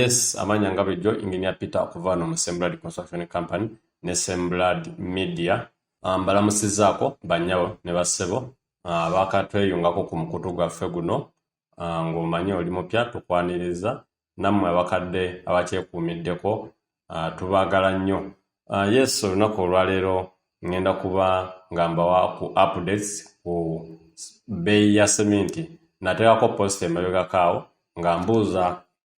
yes amanya nga bulijjo engineer peter okuva wano mu semblad construction company ne semblad media ah, mbalamusizaako banyawo ne bassebo abakatweyungako ku mukutu gwaffe guno ah, ng'omanyi oli mupya tukwaniriza nammwe abakadde abakyekuumiddeko ah, tubaagala nnyo ah, yes olunaku olwaleero ngenda kuba nga mbawa ku updates ku bbeeyi ya seminti nateekako post emabegakaawo nga mbuuza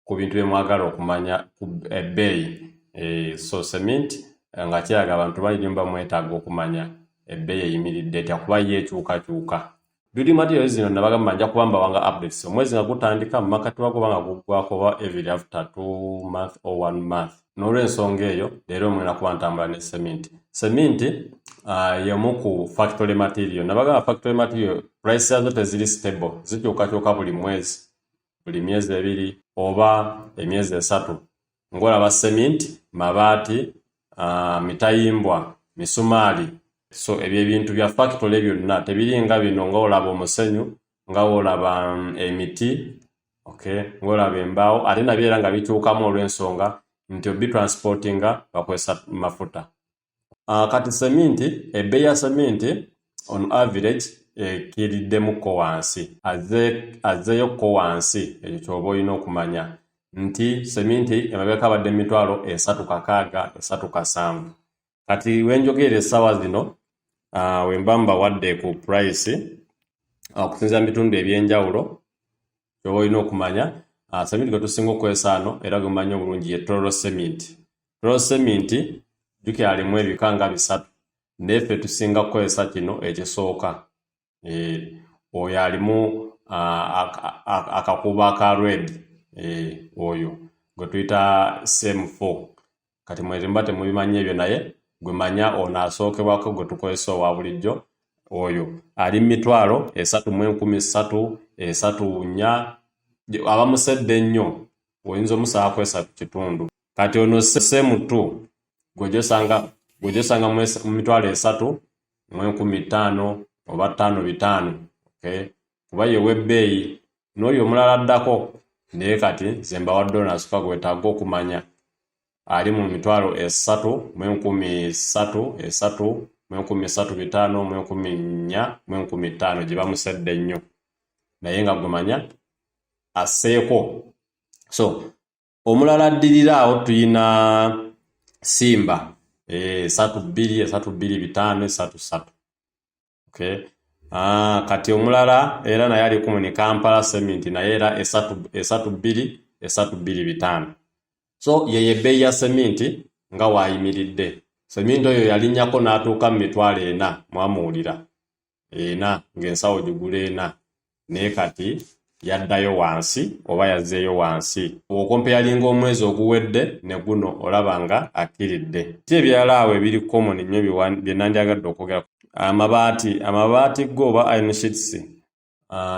ku bintu bye mwagala okumanya ku ebbeeyi eh, so cement eh, nga kiraga abantu bayinyumba mwetaaga okumanya ebbeeyi eyimiridde etya kuba ye ekyukakyuka biri material zino nabagamba nja kuba mbawanga updates omwezi nga gutandika mu makati wago banga guggwako oba every after two month or one month n'olwensonga eyo leero mwena kuba ntambula ne cement cement uh, yemu ku factory material nabagamba factory material price yazo teziri stable zikyukakyuka buli mwezi buli myezi ebiri oba emyezi esatu ng'olaba seminti mabaati uh, mitayimbwa misumaali so ebyo ebintu bya fakitole byonna tebiri nga bino nga olaba omusenyu nga olaba mm, emiti okay ng'olaba embaawo ate nabyo era nga bikyukamu olw'ensonga nti obitransportinga bakozesa mafuta Ah, kati seminti ebbeeyi ya seminti on average ekiriddemukko eh, wansi azzeeyo kko wansi ekyo kyoba olina okumanya nti seminti emabeka abadde mumitwalo esatu kakaaga esatu kasanvu kati wenjogeera essaawa zino ah, wemba mbawadde ku price ah, okusinzira mu bitundu ebyenjawulo kyoba olina okumanya seminti gwetusinga okwesaano era gwemanyi obulungi ye toro seminti Tuloseminti jjukira alimu ebika nga bisatu naye ffe tusinga kukozesa kino ekisooka eh, oyo alimu akakuubo aka red eh, oyo gwe tuyita same four kati mwerimba temubimanyi ebyo naye gwe manya ono asookebwako gwe tukozesa owa bulijjo oyo ali mu mitwalo esatu mu enkumi ssatu esatu nnya abamusedde ennyo oyinza omusaba kwesatu kitundu kati ono semu tu gwejosanga gwejosanga mu mitwalo esatu mu enkumi ttaano oba ttaano bitaano okay? kuba ye webbeeyi n'oyo omulala addako naye kati nze mbawadde ono asuka gwetaaga okumanya ali mu mitwalo esatu mu enkumi satu esatu mu enkumi satu bitaano mu enkumi nnya mu enkumi ttaano gye bamusedde nnyo naye nga gumanya aseeko so omulala addirira awo tuyina simba eh, esatu bbiri esatu bbiri bitaano esatu satu okay. Ah, kati omulala era naye ali kumuni kampala sementi naye era esatu bbiri esatu bbiri bitaano so yeye ebbeeyi ya sementi nga waayimiridde sementi oyo yalinnyako n'atuuka mu mitwalo ena mwamuwulira ena ng'ensawo gigula ena naye kati yaddayo wansi oba yazzeeyo wansi okompeyalinga omwezi oguwedde ne guno olaba nga akkiridde ti ebirala awo ebiri common nnyo bye nandyagadde okwogera amabaati amabaati go oba inshits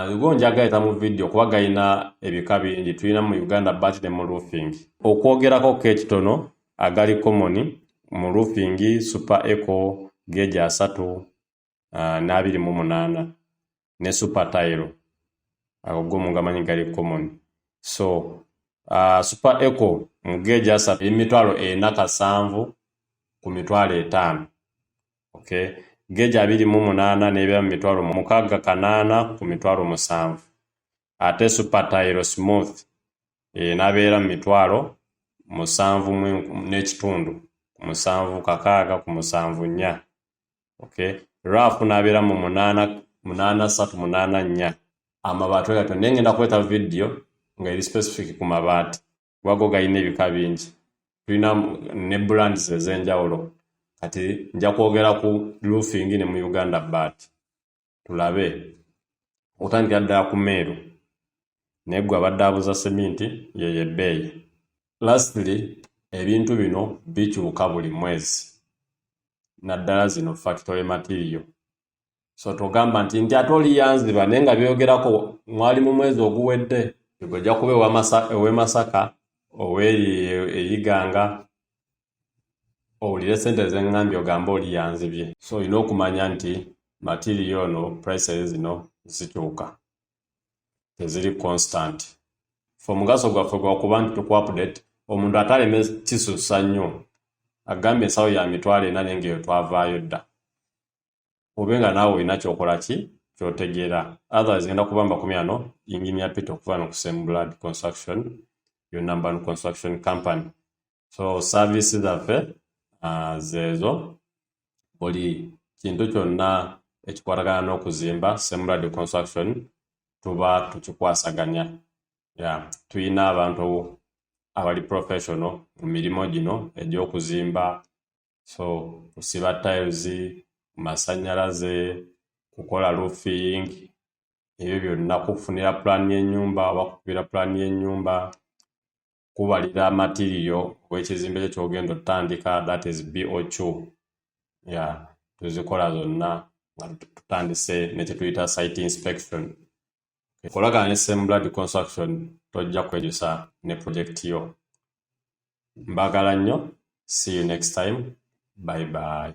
Lugo njagayita mu vidiyo kuba galina ebika bingi tulina mu uganda bat ne mu roofing okwogerako ko ekitono agali common mu roofing super eco geegi asatu ah, n'abiri mu munaana ne super tile ago go mungamanyi gali common so uh, super eco mugeeji asatu emitwalo ena kasanvu ku mitwalo etaano okay geeji abiri mu munaana n'ebya mu mitwalo mukaaga kanaana ku mitwalo musanvu ate super tile smooth enabeera mu mitwalo musanvu n'ekitundu ku musanvu kakaaga ku musanvu nnya okay rafu nabeera mu munaana munaana satu munaana nnya amabaati oyo naye ngenda kuleeta vidiyo nga eri specific ku mabaati wago galina ebika bingi tulina ne brands ez'enjawulo kati nja kwogera ku roofing ne mu uganda baati tulabe okutandikira ddala ku meeru naye gwe abadde abuza seminti yeyo ebbeeyi lastly ebintu bino bikyuka buli mwezi naddala zino factory material so togamba nti nti ate oliyanziba naye nga byogerako mwali mu mwezi oguwedde ojja kuba ewemasaka oweri eyiganga owulire sente zengambye ogambe oli yanzibye so olina okumanya nti matiriyo ono prices zino zikyuka teziri constant fe omugaso gwaffe gwakuba nti tukuapdate omuntu ataleme kisusa nnyo agambye ensawo ya mitwalo ena naye ngaeyo twavaayo dda obe nga naawe olina kyokola ki kyotegeera otherwise genda kuba makumi ano engineer pete okuva no ku same blood construction yo number one construction company so service zaffe uh, zeezo buli kintu kyonna ekikwatagana n'okuzimba semrad construction tuba tukikwasaganya ya tulina abantu abali professional mu mirimu gino egy'okuzimba so kusiba tiles masanyalaze kukola roofing ebyo byonna kufunira pulaani y'ennyumba oba kukubira pulaani y'ennyumba kubalira matiriyo wekizimbe kyo kyogenda otandika that is bocu ya tuzikola zonna nga tutandise nekyetuyita site inspection kolagana ne same blood construction tojja kwejusa ne project yo mbagala nnyo see you next time bye bye